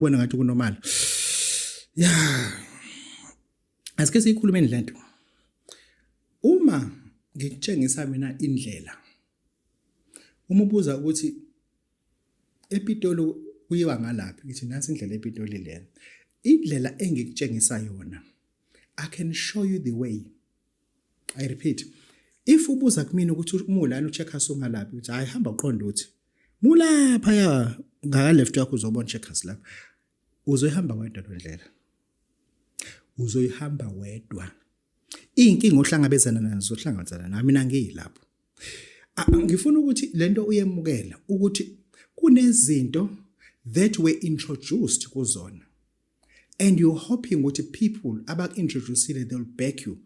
kubona ngathi kunormal ya asike siyikhulumeni lento uma ngikutshengisa mina indlela uma ubuza ukuthi epitolo kuyiwa ngalaphi ngithi nansi indlela epitoli lena indlela engikutshengisa yona i can show you the way i repeat if ubuza kumina ukuthi umulani ucheckers ungalaphi ukuthi hayi hamba uqonde uthi mulapha ya ngaka left yakho uzobona checkers lapha uzoyihamba wedwa lendlela uzoyihamba wedwa inkinga ohlangabezana nazo ohlangabezana nami mina ngiyilapho ngifuna ukuthi lento uyemukela ukuthi kunezinto that were introduced kuzona and you're hoping ukuthi people abaku-introducile they will back you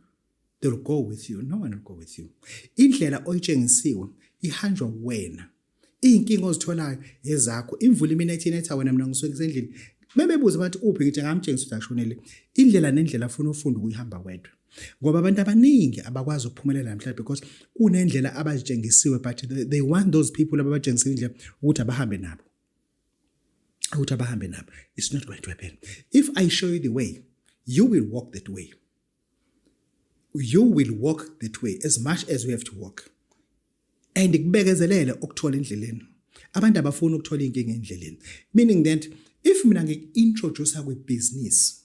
they will go with you no one will go with you indlela oyitshengisiwe ihanjwa wena iy'nkinga ozitholayo ezakho imvula imina ethi inetha wena mina ngisuke ngisendlini mebebuza abantu uphi ngithi ngamtshengisa ukuthi ashonele indlela nendlela afuna ufunda ukuyihamba wedwa ngoba abantu abaningi abakwazi ukuphumelela namhlanje because kunendlela abazitshengisiwe but they want those people ababatshengisa indlela ukuthi abahambe nabo ukuthi abahambe nabo it's not going to happen if i show you the way you will walk that way you will walk that way as much as we have to walk and kubekezelele ukuthola endleleni abantu abafuni ukuthola inkinga endleleni meaning that if mina ngikuintroduce kwi business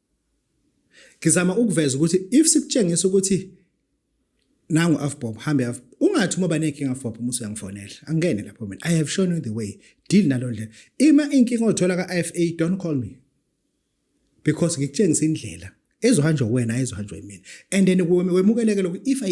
ngizama ukuveza ukuthi if sikutshengisa ukuthi nangu afbob hambe af ungathi uma banenkinga afbob uma usuyangifonela angene lapho mina i have shown you the way deal nalo ndlela ima inkinga othola ka IFA don't call me because ngikutshengisa indlela ezohanjwa wena ezohanjwa yimina and then wemukeleke lokhu if i